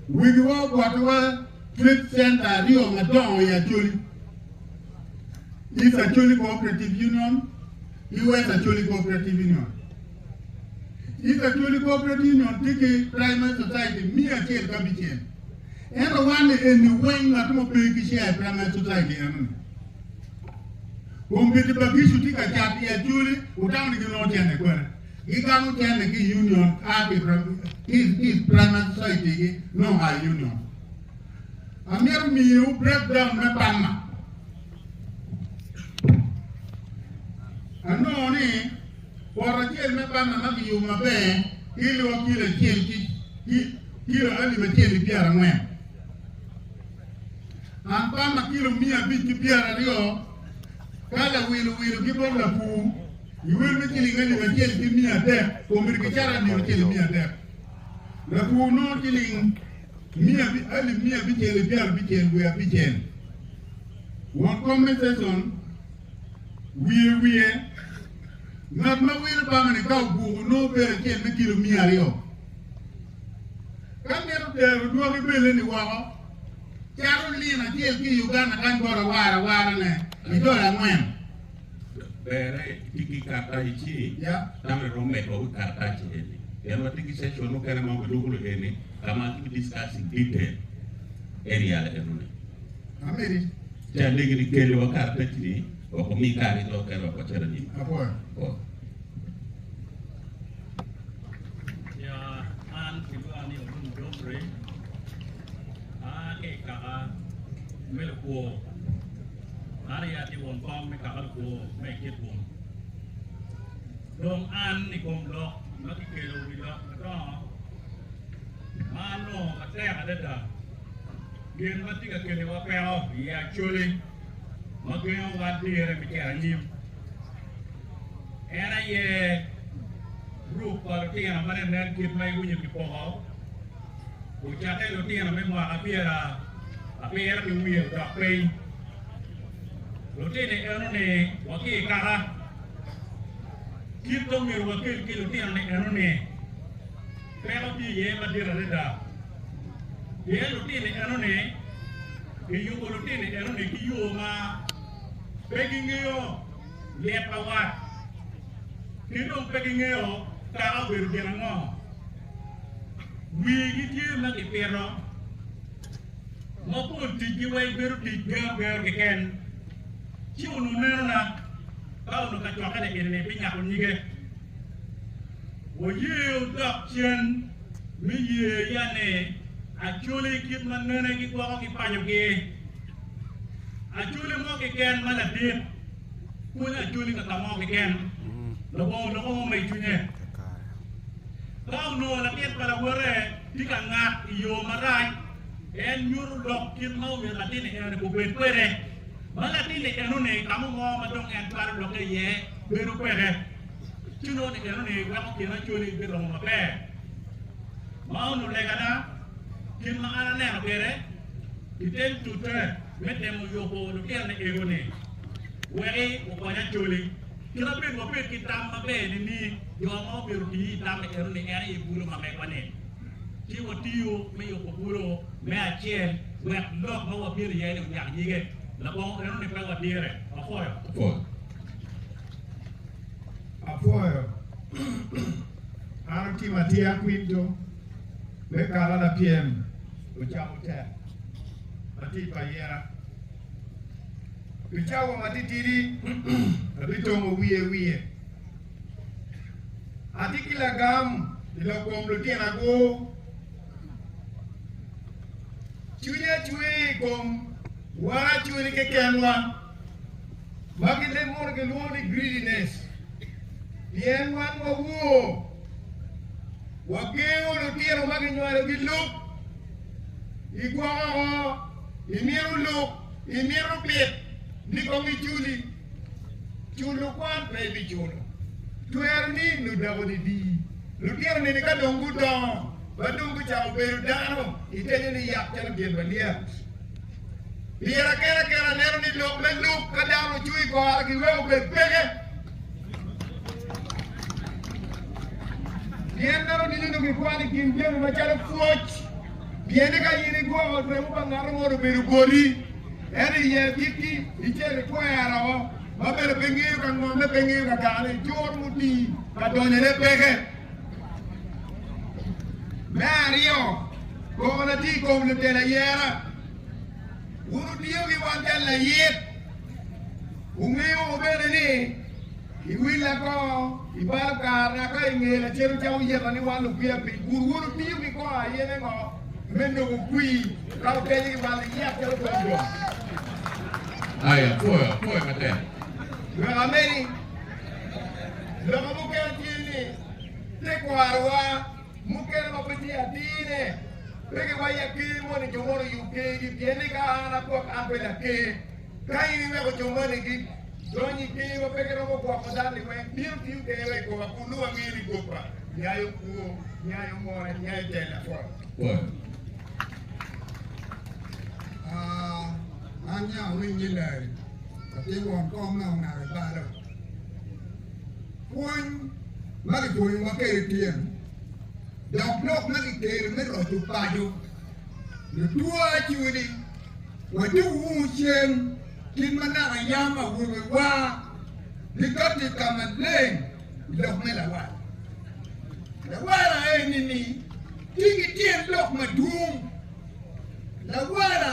Wigiwa ogwotowa Trade Center aryo madongo i Acholi, East Acholi Cooperative Union ki West Acholi Cooperative Union. East Acholi Cooperative Union tye ki Primary Society miya acel ki abicel, ento wan ni eni weng ngat mo pe ki share i Primary Society eno-ni. Kombeddi pa Gicu tye ka cat i Acholi, wutamo ni ginongo cente kwene. Gigamo jami ki i union kaati ki i Primary Society-gi nyo High Union. Amito miyowu breakdown me bamma. Anongo ni poto acel me bamma ma kiyubo maber kiliwa kilo acel ki kilo alip acel ki pyerangwen. An bamma kilo miya abic ki pyeraryo ka lawiluwilu ki bot lapur. Luel me ciling alip acel ki miya adek komedi ki caran nio acel i miya adek. Latwo nongo ciling miya alip miya abicel i pyera abicel wiye abicel. Won compensation wiye wiye. Ngat ma wilo bangane ka oguko nongo bel acel me kilo miya aryo. Ka ngat otero dwagi belle-ni woko, calo lin acel ki i Uganda kany bot awara awarane i dola angwen. Berre iti ki karatac ci dano irom medo ki karatac eni pien watye ki section mukene ma gidwoko lok eni ka ma ki discuss in detail area enoni. Ameri. Ci alegi ni kele wa karatac ni wek omi kare ki dok kene wek wacit anyim. Apwoyo. Maria tye won kom me kama lukwo me i kit bun. Dong an i kom lok ma kikelo wi lok madongo ma anongo matek adada, gin ma tye ka keliwa peko iye acoli ma gengo wan dire me cito anyim. En aye grup pa lutino ma nenen kit ma iwinyo kipoko. Ocakke lutino me mwaka pyera abiro ki wiye odok piny. Lutini enoni wa ki i kaka kit ma omyero wakel ki lutinoni enoni peko tye iye madit adada. Pien lutini enoni kiyubo lutini enoni ki yo ma pe gingeyo lit pa wat ki dong pe gingeyo kaka obedo gin ango. Wigi tye ma kipito ma pol ticgi weng bedo tic gero gero keken. Ci onongo meno na, ka onongo ka cwakkene gire ni pi nyako nyige, wayeyo dok cen me yeyo ya ni Acholi kit ma nene ki gwoko ki panyogi. Acholi mo keken ma ladit. Pwony ajoli ka ka mo keken, lubongo onongo mo ma i cwinye. Ka onongo latit pa lawote tye ka ngat i yo marac, en nyuto lok kit ma omyero latin-ni eno-ni obed kwede. Ma latin-ni eno-ni ka mo mo ma dong en twero lokke iye bedo kwede, ci nongo ni eno-ni weko kin ajoli biromo maber. Mano lega ada, kit ma an aneno kwede i tem tute. me temo yubo lutinane egone weki okony Acholi kit abed wabed ki tam maber nining? Jo ma obyero tiyo i tam eno ni en aye bulo ma megwa-ni. Ci watiyo me yubo bulo me acel wek lok ma wabyelo iye-ni onyak nyige. Labongo eno ni pe wadire. Wapwoyo. Pwony. Apwoyo. An Tim Atia Quinto. Me kalo lapyem ocako tek matit pa ayera. Pi cawa matitidi abitongo wiye wiye. Atye ki lagam i lok kom lutinago. Cwinya cwer i kom wan acwiny kekenwa ma ki leb mono gilwongo ni greediness pien wan wawor. Wagengo lutino ma ginywalo ki lub i gwoko ngo? Imito lub? Imito pit ni kong iculi? Culo kwan pe ibiculo. Twero ni ludako didi. Lutino nini ka dong gudongo ma dong gucako bedo dano itenyo ni yat calo gin malyet. Pire kene kene aneno ni lok me lub ka dano ocuo i kore giweko bed peke. Pien meno nino dong ikwano i kin jami macalo pwoc, pien eka in igwoko remo pa ngat angolo obedo boti, ento iye bikki icel ikwero ma bene pe ngeyo ka ngomme, pe ngeyo ka dane, icur muti ka donyone peke. Me aryo, koko na tye i kom lutela yera. Wun wutiyo ki wang cal layit, wumiyo wa bene ni iwilla ko i bal kare naka i nge lacen ca wuyeta ni wan lupiya piny. Kun wun wutiyo ki kor aye me ngo? Me nongo kwir ka wutenyo ki bal iyat calo kom jo. Ai, apwoyo, apwoyo matek. Wek amedi, loka mukene tye ni, tekwaro wa. Mukene ma pe tye adine, pe giwayi aker moni jo mono oyub kergi, pien ni ka an agwok an bene aker. Ka in iweko jo moni gi dony i ker ma pe giromo gwoko dal-li weng, bino tiyo kene wek igoba kun nongo angeyo ni gobba nyayo kwo, nyayo mona, nyayo tel lapol pol. An nya awiny ni lari, latin won kom me ongaro i balo. Pwony ma kipwonyowa kwede tyen dok lok ma kitero me loco paco lutwa ciwo ni, Wadwogo wunu cen kit ma naka yam awobewa gikatti i ka maleng i lok me lawala. Lawala eni-ni tye ki tyen lok madwong. Lawala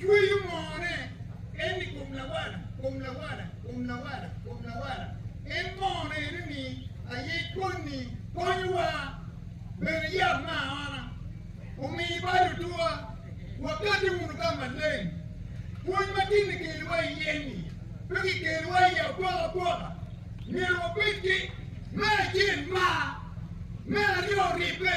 Cweyo moone en i kom lawala, kom lawala, kom lawala, kom lawala. En moone ene ni aye konni, konyowa bene yab me aona, omi bal otwa, wakati wunu ka maleng. Pwony matin ni kelowa iye-ni pe kikelowa iye apoka poka, myero wabed ki me acel mar, me aryo ribbe.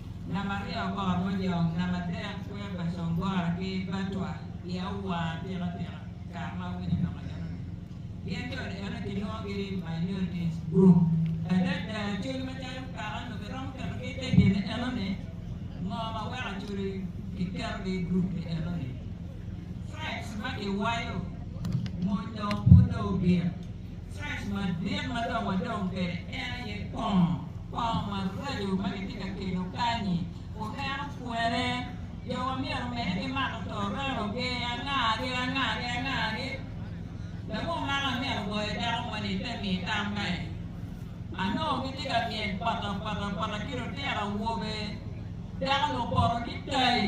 Namba aryo, kor amojong. Namba adek, twer pa congora ki batwa i awa atika tika kare ma awinyo loko enoni. Gin jo ni eno kilwongogi ni minorities group. Adada, col macalo kaka onongo kiromo ketogi i te gin ni enoni, ngo ma weko col kiketogi i group ni enoni? Threats ma kiwayo mony dong pud dong obyek. Cac madit ma dong wadong kwede en aye kong. Kong maraco ma kitye ka kelo kany-nyi wuneno kwene? Jowa myero omedde ki mako torreno-gi angagi angagi angagi. Labwor magi amyero ogoyo dako moni i te mi tam ka en anongo gitye ka myel pata pata pata ki lutino awobe. Dako-ni opoto ki tayi.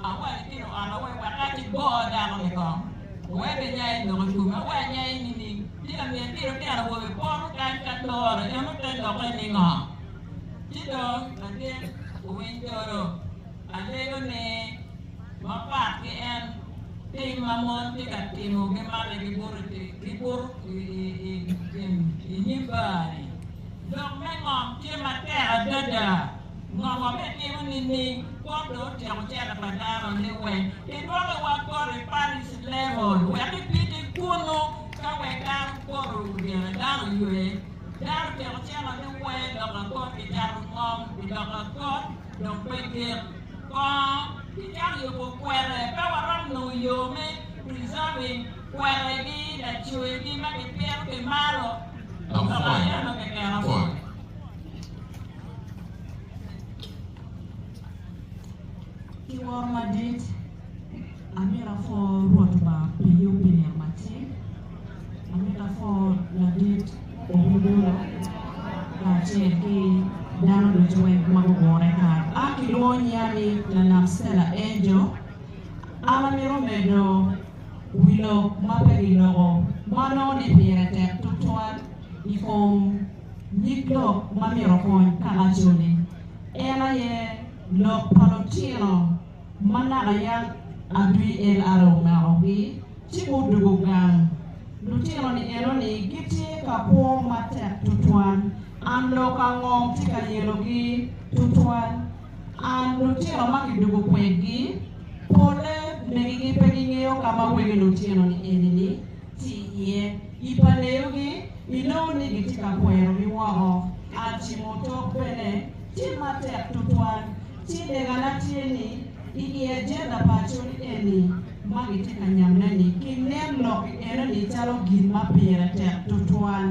Awaco ki luota wek waka ki go dako ni kong, wek enya i lok i kome. Awaco nya i nining? Ci lamin ki lutino awobe poto kany ka toro, en ote dokke ni ngo? Ci dong latin owiny toro, alego ni, ma pat ki en, tim ma mon ti ka timo gi mate gi buto gi buto i i nyim bar ni, lok me ngom tye matek adada. Ngo ma bitimo nining kwo dong otyeko cente pa dano ni wek kidwoki wa poto i Paris level wek ipiti kunu ka wek dano poto gire dano ywe dano tyeko cente ni wee dok akot kicato ngom i dok akot dong pe gik kongo kicato yubo kwere pe waromo nongo yo me preserving kwere gi lacwe gi ma gipito ki malo dok aye ma keken apol. Ki woro madit, amito apwo Rwot Lubanga pi yub pi nino matir. Amito apwo ladit Ohudulo kacel ki dano ducu weng ma gugure kany. A Kilwongo nyiya ni Lanam Stella Angel. An amito medo wi lok ma pe giloko ma nongo ni pire tek tutwal i kom. nyig lok ma myero okony Kalaco-ni en aye lok pa lutino ma naka yat adwi LRA omakogi ci gudwogo gang. Lutino-ni enoni gitye ka kwo matek tutwal. An lok ango tye ka yelogi tutwal? An lutino ma kidwogo kwedgi, polle megigi pe gingeyo ka ma wegi lutino-ni enini tye iye. I pa neyogi, Inongo ni gitye ka pwerogi woko. A Timo tok bene tye matek tutwal. Ci legana tye ni, i i ajenda pa Acholi eni ma gitye ka nyamme-ni, ginen lok i enoni calo gin ma pire tek tutwal.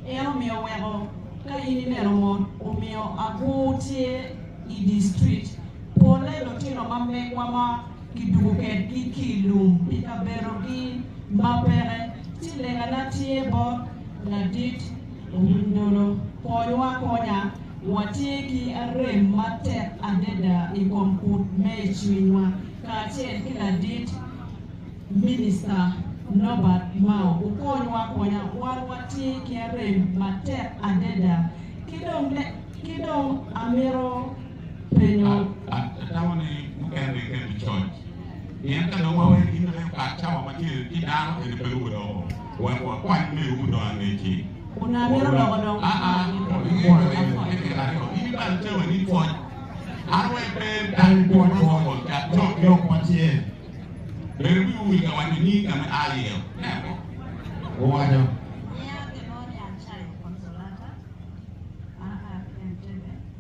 En omiyo weko ka in ineno mot omiyo agur tye i district, polle lutino ma megwa ma. kiduku kedgi ki i lum pi kabedogi ma peke, ci legana tye bot ladit Owinydolo, Konywa akonya, watye ki arem matek adada i kom kut me i cwinywa, kacel ki ladit Minista Norbert Mao, wukonywa akonya, wan watye ki arem matek adada, ki dong, ki dong amito. penyo. Atamo ni mukene ringe ki i coc, pien ka dong waweyo gin ma medo kato cawa ma tye ki dano kene pe ruko doko, wek wakwany me ruko dong angecci. Kun amito loko dong ki i wang Nino pi pwoyo i iye. Pi tyen aryo, in ibalo cawa ni pwoc an aye pe dang ipwony ma pwony pwony cat cok ki lok macel. Ber wi ur ka waco nying ka me a iye. Nen mo. Owaco.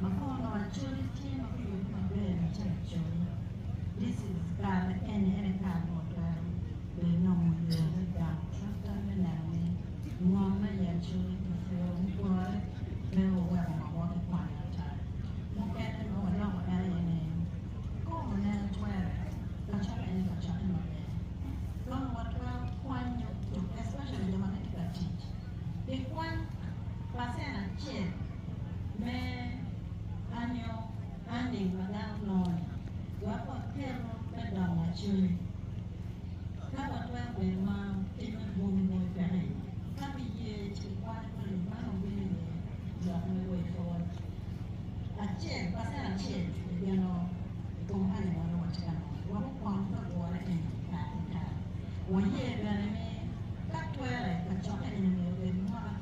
Ma kono Acholi tye ma guyubo maber ma tye Acholi, this is kare eni ene kare ma watwero bene nongo yo me gang twatwa me neno ni ngom ma i Acholi kipuro mupore pe waweko ngo mo kikwany ata. Mukene ma waloko en aye ni kong waneno twere kacok eni kacokke maber kong watwero kwanyo especially jo ma gitye ka tic kikwany pacen acel. me anyo ange ma dano nongo-ni, wek waketo me dongo lacoc. Ka watwero bedo ma kit ma dwongi bene peke iye, ka kiye ci kikwayo ni man obino iye lok me wecwa acel pacen acel i geno i kom ange ma nongo watye ka nongo-ni, wek okony ka gure eni i kare ki kare. Waye bene ni ka twere kacokke eni myero obed mwaka.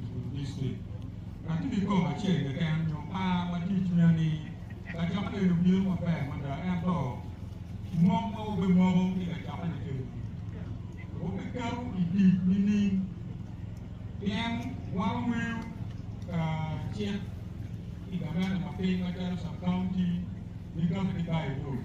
i bur dictrik ma ki i kom acel keken nyo par ma tye i cwinya ni kacokke eni obino maber mada ento mok ma wubimoko ki kacokke ni kene ni wubiketo i tic nining pien wan wangeyo ka cik i gaveta ma piny macalo sub county ni kati ki bayi road.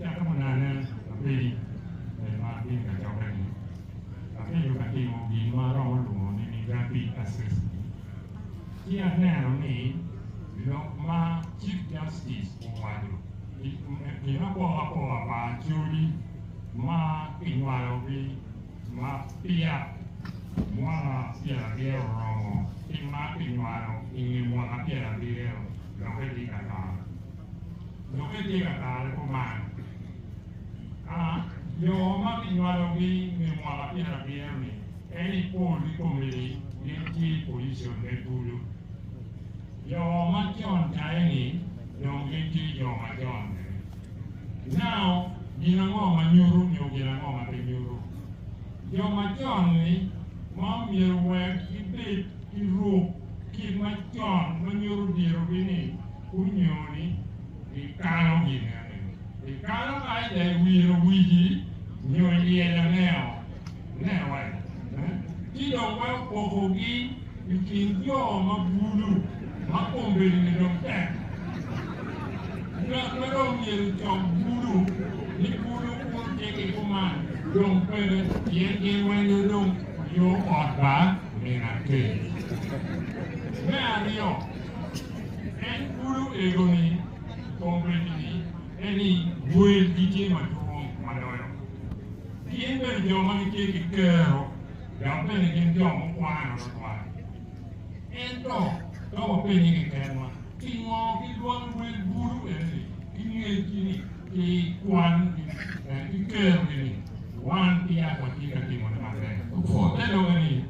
Yat munane apedi me ma atye ka cokke-ni, abedo ka timo gin ma aromo lwongo ni rapid assessment. Ci aneno ni lok ma Chief Justice owaco gin apoka apoka pa acodi ma kinywalogi ma peya mwaka pyerabiro oromo ki ma kinywalo i nge mwaka pyerabiro doki tye ka tar. dok itye ka tarre kuman. A Jo ma kinywalogi me mwaka pyera abiro-ni en i pol ki komgi gin tye i pojicon me kulu. Jo ma con caye-ni dong gin tye jo ma con bene. Now, gin ango ma nyuto nyo gin ango ma pe nyuto? Jo ma con-ni ma omyero wek gibed ki ruk kit macon ma nyuto dyerogi ni gungeyo ni gikalo gineni. Ikalo kac dok iwiro wigi nyo ilyelo aneo? Newa! Ci dong pe opokogi i kin jo ma bulu ma kombedini dong tek. Ngat ma dong myero ocok bulu ni bulu kun cik iko man dong pede, pien gin weng dong guyo ot ba. min atir. Me aryo, en kulo ego ni kongreggi ni en ni welgi tye madwong ma loyo gin bene jo ma gitye ki kero dok bene gin jo mukwano tutwal. Ento ka wapenye keken-wa, pingo gidwaro wel bulu eno-ni ki ngecgi-ni? ki kwangi wek gikerogi ni, Wan i yat watye ka timone maber. Gupwoo te lube ni,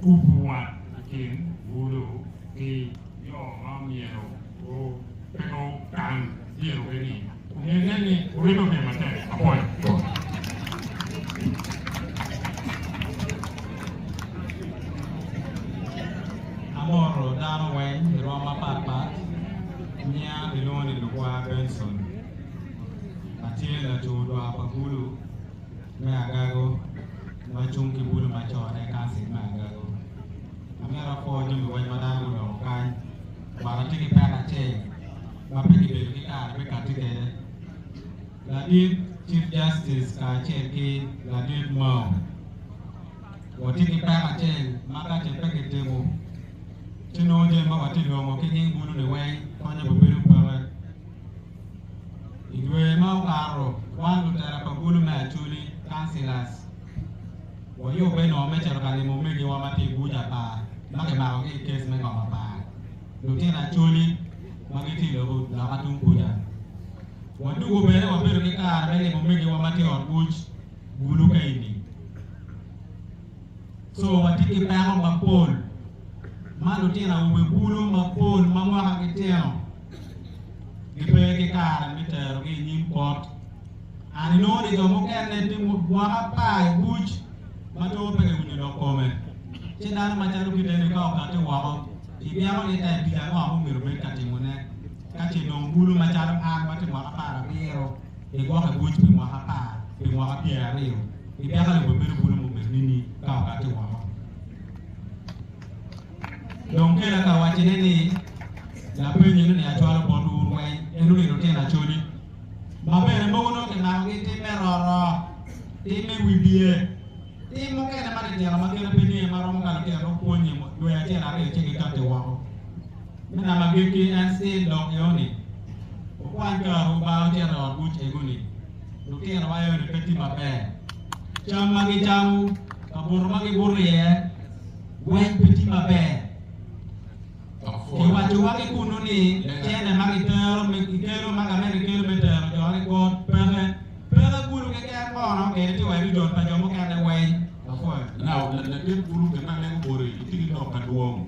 Kubu wat i kin bulu ki jo ma omyero gupeku tang dyerwegi-ni, omyero inen ni wurito gin matek mapol. Amoro dano weng i rwom mapat pat. Nyinga gilwongo ni Lukwaya Benson. Atye laco odwa pa Bulu me Agago ma cung ki Bulu Macon e Kansil me Agago. Amito akwo jami weng ma dano guloko kany. Bot atye ki pek acel ma pe kibedo ki kare me katti kwede. Ladit Chief Justice kacel ki Ladit Mao, watye ki peko acel ma ka ce pe kitimo, ci nongo jami ma watye longo ki nying bulo-ni weng konye bene bedo peke. I dwe ma okato, wan lutela pa bulo me Acholi, Councillors, wayubbe nongo me cito ka limo omegiwa ma tye i buc apar ma kimakogi i kes me ngom apar, lutino Acholi ma gitye i lobo loka tung kuca. Wadwogo bene wabedo ki kare me limo omegiwa ma tye i ot buc bulu ka i nining? Co watye ki peko mapol ma lutino awobe bulu mapol ma mwakagi tino gipe ki kare me terogi i nyim pot. An inongo ni jo mukene pi mwaka apar i buc ma two pe kiwinyo lok kome. Ci dano macalo kite-ni ka okatti woko, ibyeko ni tek tic ango ma omyero obed ka timone? Ka ce dong bulu macalo an ma tye mwaka apar abiro gigwoko i buc pi mwaka apar pi mwaka pyer aryo, gipeka lobo bedo bulu mubedo nini ka okatti woko? Dong kele aka waccine ni, Lapenyo eno ni acwalo bot wu wun weny, eno ni lutino acoli, ma bene mogo nongo kimakogi i tim me roro, tim me wi biye, tim mukene matitino ma kite pe niye ma romo ka lutino romo pwonye dwe acel aryo ci gikatti woko. Me namba agikki, en ci dok i ot-ni. Okwan ka Lubanga ocito i ot mucege ni, 'Lutino ma i ot-ni pe tye maber. Cam ma gicamo, kabuto ma gibuto iye weng pe tye maber. Kiwaco wa ki kunnu ni cene ma gitero me gikelo ma gamente gikelo me tero jo ni kor peke. Peke kulu keken kono kene tye wa i rijol pa jo mukene weng. Lapwony. Now, latin kulu kit ma en obuto-ni, itye ki lok madwong.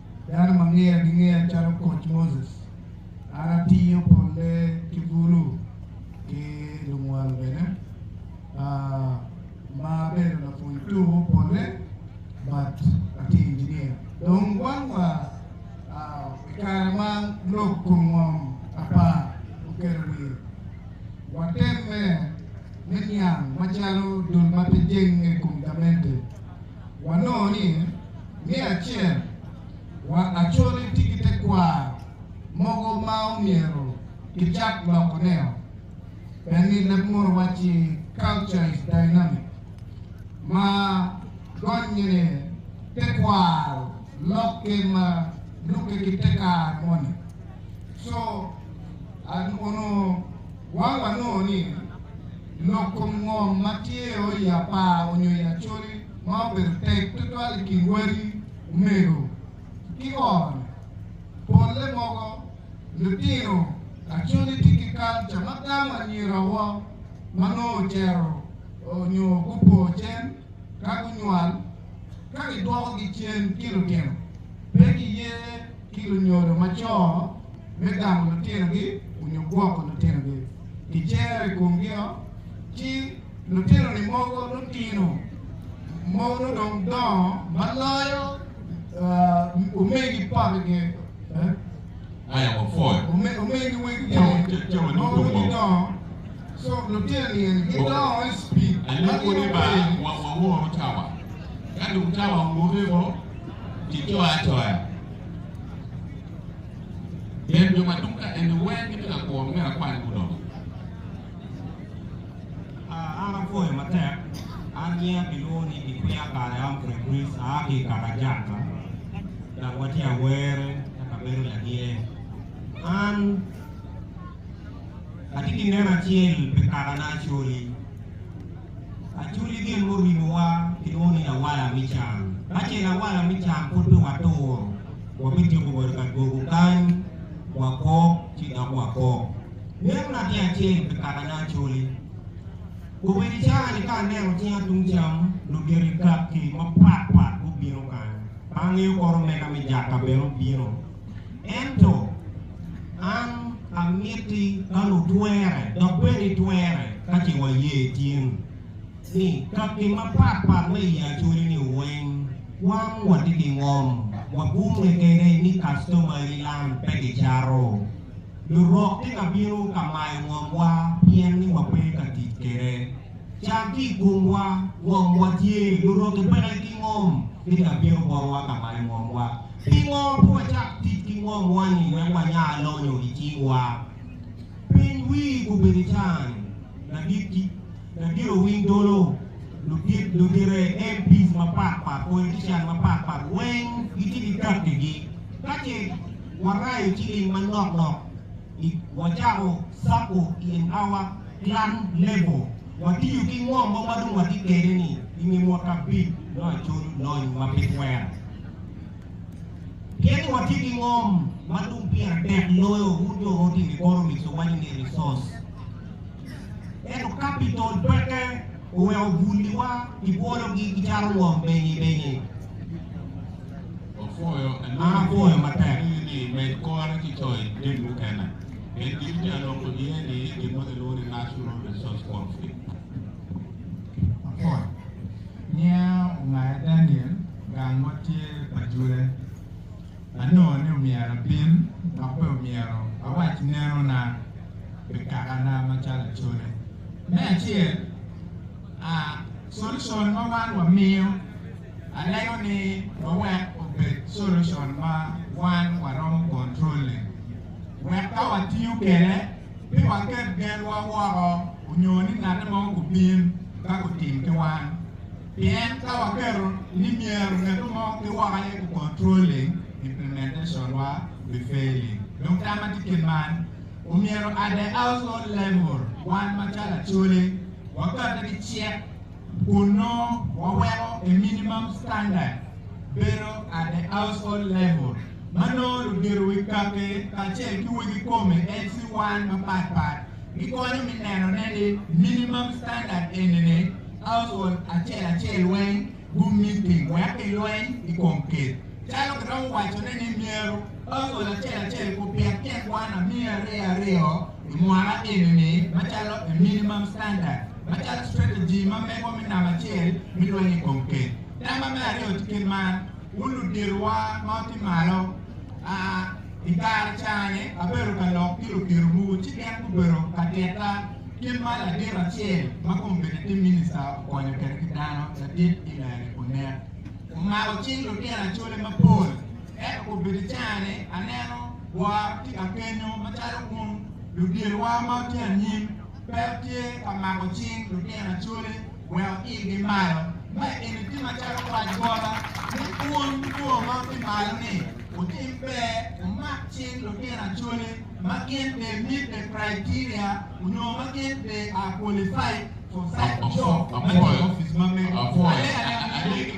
Dano ma ngeya gingeya calo koc Moses, an atiyo polle ki bulu ki lumwal bene, ma abedo lapwony tuko polle but atye injiniya. Dong wang wa i kare ma lok kun ngom apar oketo wiye, watemme me niang macalo dul ma pe jenge i kom gamente. wanongo ni me acel wa acoli tye ki tekwaro mogo ma omyero kicak loko neo bene ni leb munu wacci culture is dynamic ma gonnye ni tekwaro lokke ma lukke ki te kare moni so onongo wa wanongo ni Loko ngom ma tye o i apar onyo i acoli ma obedo tek tutwal i kin wadi omego ki oro ne. Polle mogo, lutino acoli tye ki kalca ma gamo anyira wo ma nongo ocero onyo gupo cen ka gunywal. Ka gidwoko gi cen ki lutino, pe giye ki lunyodo ma co. me gamo lutinogi onyo gwoko lutinogi, gicero i komgio, ci lutinoni mogo lutino mogo dong dongo ma loyo omegi papigi, omegi wegigi mogo gidongo, so lutino-ni eni gidongo i cipid ma gin obedo. Pien jo ma tung ka eni weng gitye ka kuro myero akwany gudong. Ah, an apwoyo matek. An nyinga kilwongo ni Kikwiya kare Humphrey Chris, aa ki i Kakajaka, dok watye Awere ka kabedo Lagine. An atye ki neno acel pi kakana Acholi. Aculo gin murimowa ki moni lawala me can. Ka ce lawala me can pud pe waturo, wabituko wa i ka dwogo kany, wakok, ci dok wakok. Mito natin acel pi kakane acoli. Obedo caa-ni ka aneno cinga tung cam, lugiti kaki mapatpat gubino kany. Ka angeyo kore omega me jaka bene obino. Ento an amiti ka lutwere, dok bene itwere ka ce waye tin ni ka gin mapat pat ma i acolini weng wan watye ki ngom wagumme kede ni kastomani lan pe gicato. Lurok tye ka bino ka mayo ngomwa pien ni wape ka tic kede. Cam ki i komwa, ngom watye, lurote peke ki ngom, ni ka bino botwa ka mayo ngomwa. Pingo pe wacak tic ki ngomwa-ni wek wanya lonyo i cingwa? Piny wi gubedo can, ladit ki ladit owiny dolo, ludit, ludire, MPs mapat pat, politician mapat pat weng gitye ki kattigi. Ka ce warayo ciling manok nok, wacako sacco i Empower Plan Lebo, Watiyo ki ngo mo ma dong watye kwede ni i nge mwaka abic me Acol Lony ma pe Twero? Pien watye ki ngom ma dong pire tek loyo wun jo ma otimo i kor omic wawaco ni resource. Ento capital peke oweko bwoliwa kibwologi kicato ngom benye benye. Apwoyo matek. Nen ni imed kore ki coyo jami mukene. Pien gin me aloko niye ni gin mo gilwongo ni National Resource Conflict. Apol niya ongaya Daniel gang ma tye pa jule. Anongo ni omyero abin dok bene omyero awac nenona pi kakana macalo acone. Me acel, a, solcol ma wan wamiyo. Alego ni ma wek obed solution ma wan waromo control-le, wek ka watiyo kede pe waket genwa woko onyo ni ngatte mo gubin ka gutim ki wan. Pien ka waketo ni myero ngeto mo ki woko aye gu controlling, implementation-wa bi failing. Dong tamma tye kit man, omyero at the household level wan macalo Acholi wakate ki cik, kun nongo waweko a minimum standard bedo at a household level ma nongo ludito wi kake kacel ki wegi kome LC1 mapat pat gikonyo me neno ne ni minimum standard eni ni household acel acel weng gu meeting wek ki lweny i kom kit calo kiromo waco ne ni myero household acel acel ku pit tyen kwan amiya aryo aryo i mwaka eni ni macalo a minimum standard. macalo strategy ma megwa me namba acel me lweny i kom kec. Namba me aryo tye kit man, Wun luditowa ma wutye malo, a i kare cani abedo ka lok ki lukitowu, ci gin gubedo ka tita kit ma ladit acel ma kome bene tye minista okonyo kwede ki dano, ladit i lela-ni onen. Omako cing lutino acole mapol, ento kobedo cani aneno woro tye ka kenyo macalo wun luditowa ma wutye anyim. Ber tye ka mako cing lutino acwali weko irgi malo ma i kine tim acalo kwayo bota me pwony lwor ma ki malo ni wutim ber wumak cing lutino acwali ma gin bene meet the criteria onyo ma gin bene are qualified for such a job ma jo office ma mego alega alega.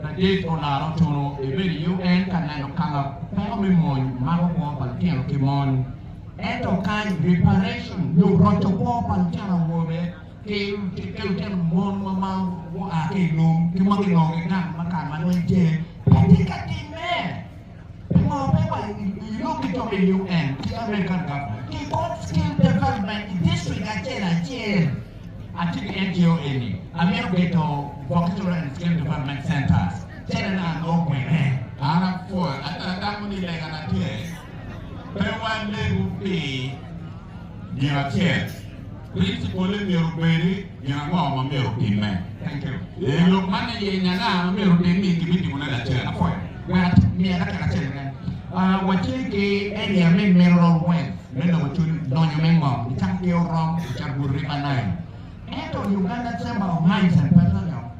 Adek olaro otunu ebedo i UN ka neno kala peko me mony mako kwo pa litino ki mony. Ento kany, reparation, nyo roco kwo pa litino awobe ki litino mon ma ma gua ki i lum ki ma ginongo gigang ma kare ma lweny tye pe tye ka timme. Wawor wa i lok kidok i UN ki American government ki kod skill development i district acel acel. Atye ki NGO eni amito geto vocational and skill development centers cene na anongo kwene. An apwoya ento atamo ni lega na tye pe walegu pi gin acel. Principal-le myero obed ni gin ango ma myero otimme. I lok man ni yenyo anga ma myero otim ni kibitimone lacen. Apwoyo wat miya dakika acel keken. Ah, wacel ki eni amin meno romo rweny me nongo cwiny lonyo me ngom i cak ki orom i cabur river Nile. Ento Uganda Chamber of Mines and Petroleum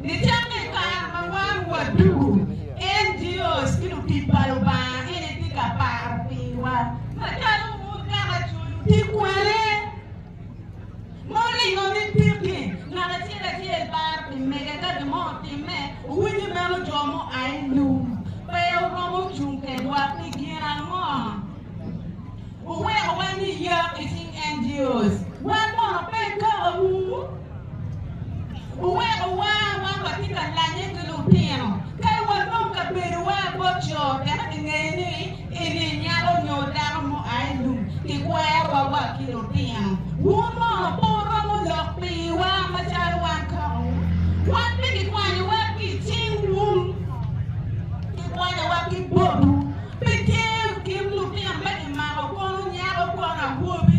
Nicakke i kare ma wan waducu NGOs ki lutic pa Lubanga gin itye ka paro piwa macalo bur kaka culu tye kwane muringo ni tit-ti. Ngat acel acel paro pi mege ka gin mo otimme, owinyo meno jo mo a i lum pe oromo cung kedwa pi gin ango? Wuweko wani yak i cing NGOs wan mono pe kawu. Wuweko war ma watye ka lanye ki lutino ka walwong kabedowa bot jo wek gingeyo ni eni nyako nyo dako mua i lum. Kikwerowa wa ki lutino. Wun mono pe wuromo lok piwa macalo wan kong? Wan pe kikwanyowa ki i cing wun, kikwanyowa ki botwu. Pe tye kim lutino ma kimako kono nyako kono awobi.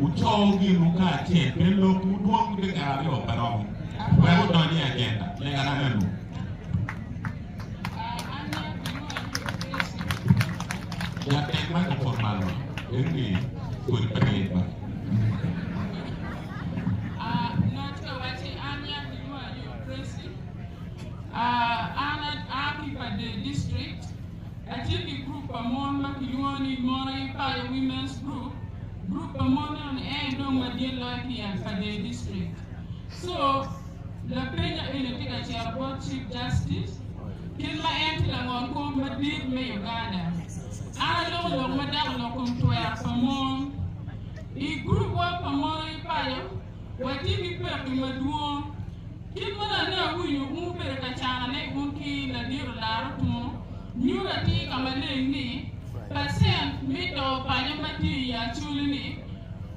Wucowu ginwu kacel me lokwu dwong dyekal aryo pe romo wek wudony i ajenda lega ananu. Jatend ma kipwod malo bedo ni kodi pe ryeny ba. acel ki gurup pa mon ma kilwongo ni Mora Ipayo Women's Group, gurup pa mon meno ni en dong madit loyo ki yam pa dee district. So, lapenya eni tye ka cito bot Chief Justice, kit ma en tye langol kom madit me Uganda, an aloko lok ma dako lok kom twero pa mon, i gurup wa pa Mora Ipayo, Watye ki pekki madwong. Kit ma lane awinyo un bene ka canone un ki ladiro laro tunu, nyuto atir ka maleng ni pacent me to panya ma tye i Acholi-ni,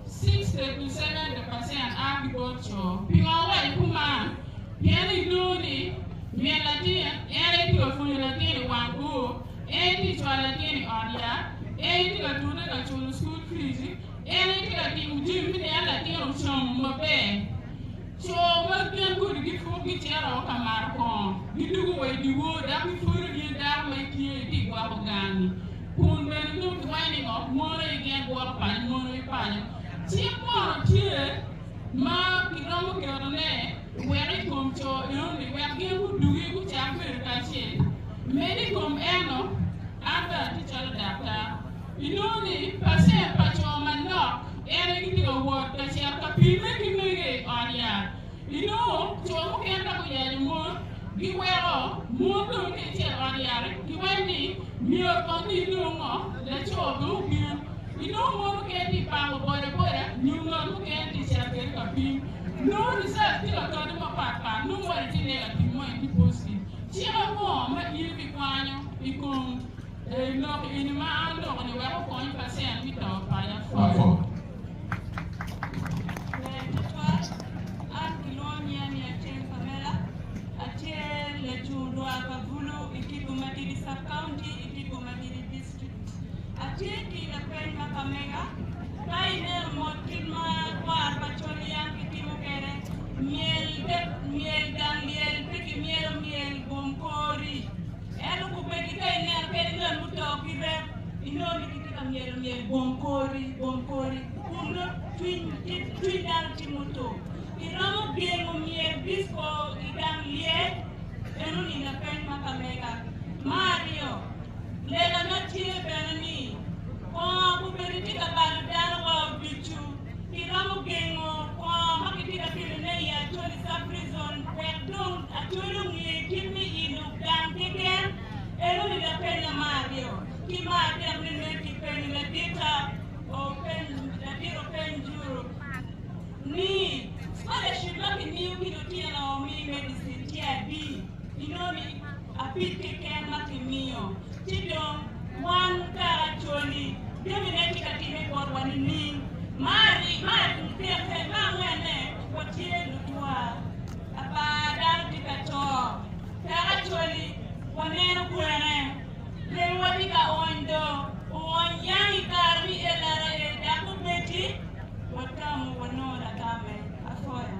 sixty to seventy pacent, a ki bot co. Pingo awaco kuman? Pien inongo ni min latin en aye tye ka pwonyo latin i wang bor, en aye tye ka cwalo latin i ot yat, en aye tye ka tute ka culo cukul fici, En aye tye ka timo jami me niang latin ocomo maber. Co ma gin kodi gipwok gicito woko ka mato kongo, gidwogo wa i dyewor dok gipwodo ni dako ma itye ni tye ka gwoko gangi. Kun bene nongo kiwaco ni ngo? Mono aye gin gwoko paco mono aye paco. Cik mono tye ma kiromo ketone wek i kom co enoni wek gin gudugi gucak bedo kacel? Medo i kom eno, an bene atye calo daktar. Inongo ni pacent pa co manok ene gitye ka wot ka cito ka pimme ki mege i ot yat. Inongo co mukene ka guyanyo mon, giweko mon dong ka icito ot yat-ti giwaco ni, 'Myero kong ni inong ngo? Laco dong obino. Inongo mon mukene tye ka pako bodaboda nyo ngat mukene tye ka cito kwede ka pim. Nongo licet tye ka kati mapat pat, nongo wacci tye lego atima ma in kipocci. Cik ango ma in ibikwanyo i kom? Lok eni ma aloko-ni weko kony pa cen me to panya pwod. Ber tutwal. An kilwongo nyinga ni Achieng Pamela. Atye lacung dwar pa Bulu i Kigo Madidi Sub-County i Kigo Madidi District. Atye ki lapeny ma kamega, Ka ineno mot kit ma kwar pa col yam kitimo kwede myel, myel gang lyel, pigi myelo myel, gom kori. Ento okobbe-gi ka ineno kadi ngat muto ki rem, inongo ni gitye ka myelo myel bong kori bong kori, kun nongo cwiny cwiny dano tye muto. Iromo gengo myel disko i gang lyel? Meno oninga peny ma ka mega. Ma aryo, lega ma tye bene ni, Bongo okobbe-gi tye ka balo dano wa oducu. Iromo gengo kwor ma kitye ka kelone i Acholi Sub-Rizon wek dong Acholi onge kit me ilo gang keken? Eno ni lapenna ma aryo. Ki ma adek ni nen ki penyo ladita ladit openy Juru ni, Scholarship ma kimiyo ki lutino me medicine tye adi? Inongo ni. Apil keken ma kimiyo ci dong wan kara Acholi jami ne tye ka timme botwa nining? Ma angwene watye lutwa apar dano tye ka to kara Acholi waneno kwene remo wa tye ka ony do oony yang i kare me LRA dok mubeddi watamo wanongo lagame apoya.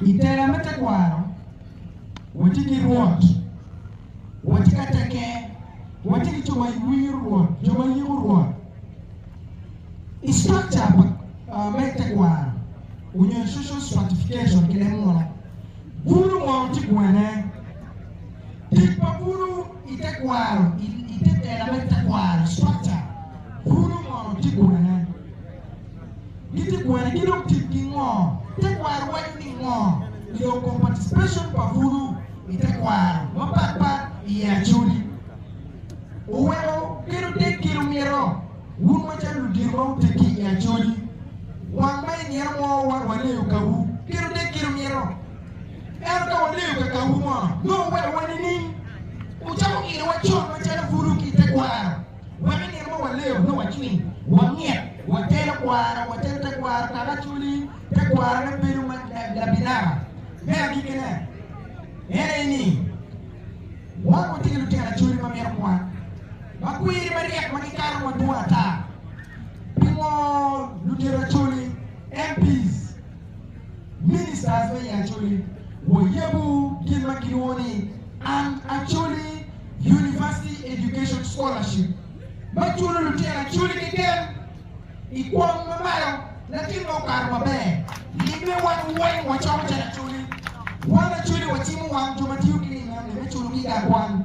I tela me tekwaro, watye ki Rwot, watye ka tekke, watye ki jo ma winyo Rwot, jo ma yiko Rwot. I structure pa me tekwaro onyo i social stratification ki leb muno, bulu mono tye gwene? Tic pa bulu i tekwaro i te tela me tekwaro, structure, bulu mono tye gwene? Giti kwene ki dong tic ki ngo? Tekwaro waco ni ngo? Nidong kom participation pa pulu i tekwaro mapat pat i Acholi oweko kedo tek kit omito. Wun macalo ludito ma wuteggi i Acholi, wang ma inino mo wa waleyo kawu kedo tek kit omito. Ento ka waleyo ka kawu mono nongo werowa nining? Wucako ino wa con macalo pulu ki tekwaro. Wek i nino ma waleyo nongo wacwiny, wamyero water tekwaro, water tekwaro kaka Acoli. Tekwarone bedo ma labinaba. Me agikkine, en aye ni wang watye ki lutino Acoli ma mito kwan, ma kwiri maryek ma gikato madwong ata. Pingo lutino Acoli, MPs, Ministers me i Acholi, wayebu gin ma gilwongo ni An Acholi University Education Scholarship ma culo lutino Acholi keken i kwong ma malo. Latin ma okato maber, limme wan weng wacoko calo Acholi. Wan Acholi wacimo wang jo ma tiyo ki lim enoni me culo giga kwan.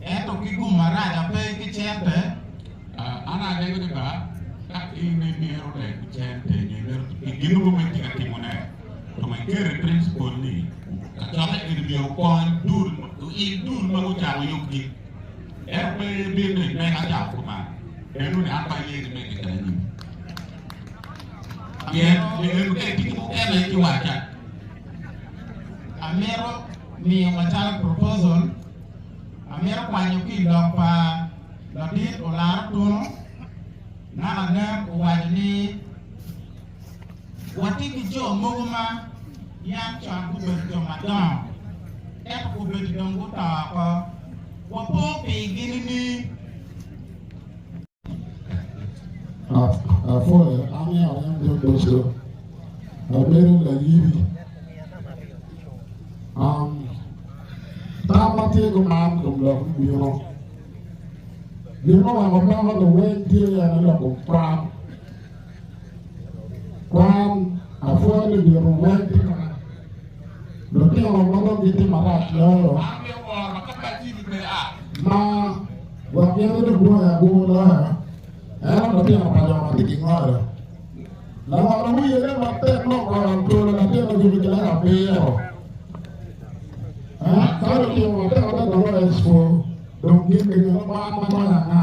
ento ki gum marac ape ki cente. An alego ni ba ka in imito leb ki cente nyo imito ki gin mogo ma itye ka timone, tum ikeri principle ni kacokke eni myero okony dul in dul ma gucako yub gin. Ento pe ibin ni me ka cako kuman nenu ni an pe aye ni me keken anyim. Pien ninu ka itye ki mukene ci waca. amito miyo macalo proposal, amito kwanyo ki i lok pa Ladit Olaro Tunu, naka nen owaco ni watye ki jo mogo ma yam con gubedo jo madongo ento gubedo dong guto oko, wapo pigi nining? Apwoya amiyo anyam jami ducu. Abedo layiri. Um, tam ma tye gumar kom lok me bino. Gin ma weko dako luweny tye yene loko kwan. Kwan, Apwony ni nyuto weny tye kaka lutino ma dong gitye marac loyo ma wagine dong dwoyo agur loyo, ento lutino pa jo ma tye ki ngolo. Lawala wiye ne matek nok oro twolo latin ma jubbe ki lak abiro. Aa, ka lutino matek adada loyo i cukul, dong gin gingino kwan ma loyo anga?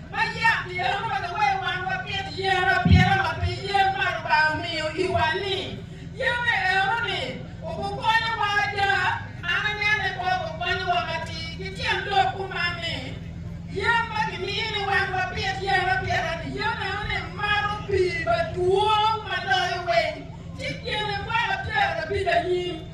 Ma yat tyen ma pe kiweyo wan wapit yen apita ma pi yen ma Lubanga omiyo iwa-ni. Yene eno-ni, ogukonyowa ada. An anene kop okonyowa matir ki tyen lok kuman ni, Yen ma kimiyo ni wan wapit yen apita-ni, yen eno-ni mato pii madwong ma loyo weng, ci gene kwaka pyerabicanyim.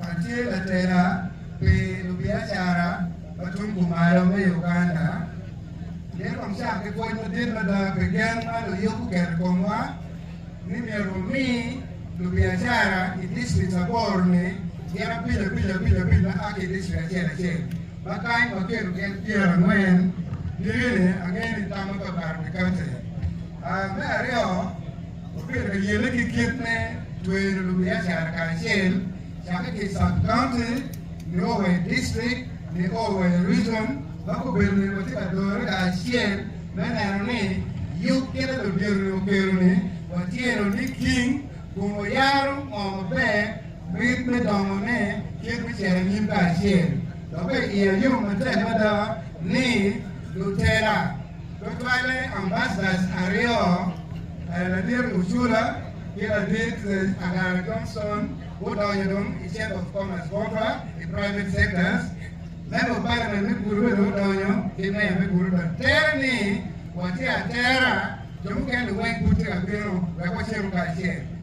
Atye ka tela pi lubiacara ma tung kumalo me Uganda. Myero wacak ki pwoc madit mada pi gen ma luyub guketo i komwa ni myero wumi lubiacara i distrik aboro-ni gin abic abic abic abic ma a ki i distrik acel acel, ma kany waketo gin pyerangwen. Gin eni angeyo ni tam mapatpat pi kaunti. Me aryo. Oketo yene ki kit me twero lubiacara kacel cakke ki sub county nio wa i district nio wa i region ma gubedo ni watye ka dore kacel me neno ni yub kite ludito ni okelo ni watyeno niking kun wayaro ngo maber mit me dongo ne kit me cito anyim kacel. Doki iya yom matek mada ni lutera. Tutwalle ambassadors aryo, Ladit Mucula ki Ladit Agara Johnson gudonyo dong i Chamber of Commerce botwa i private sectors. Member of Parliament me Gulu bene odonyo ki Mayor me Gulu bene. Tere ni watye atera, jo mukene weng pud tye ka bino wek wacenu kacel.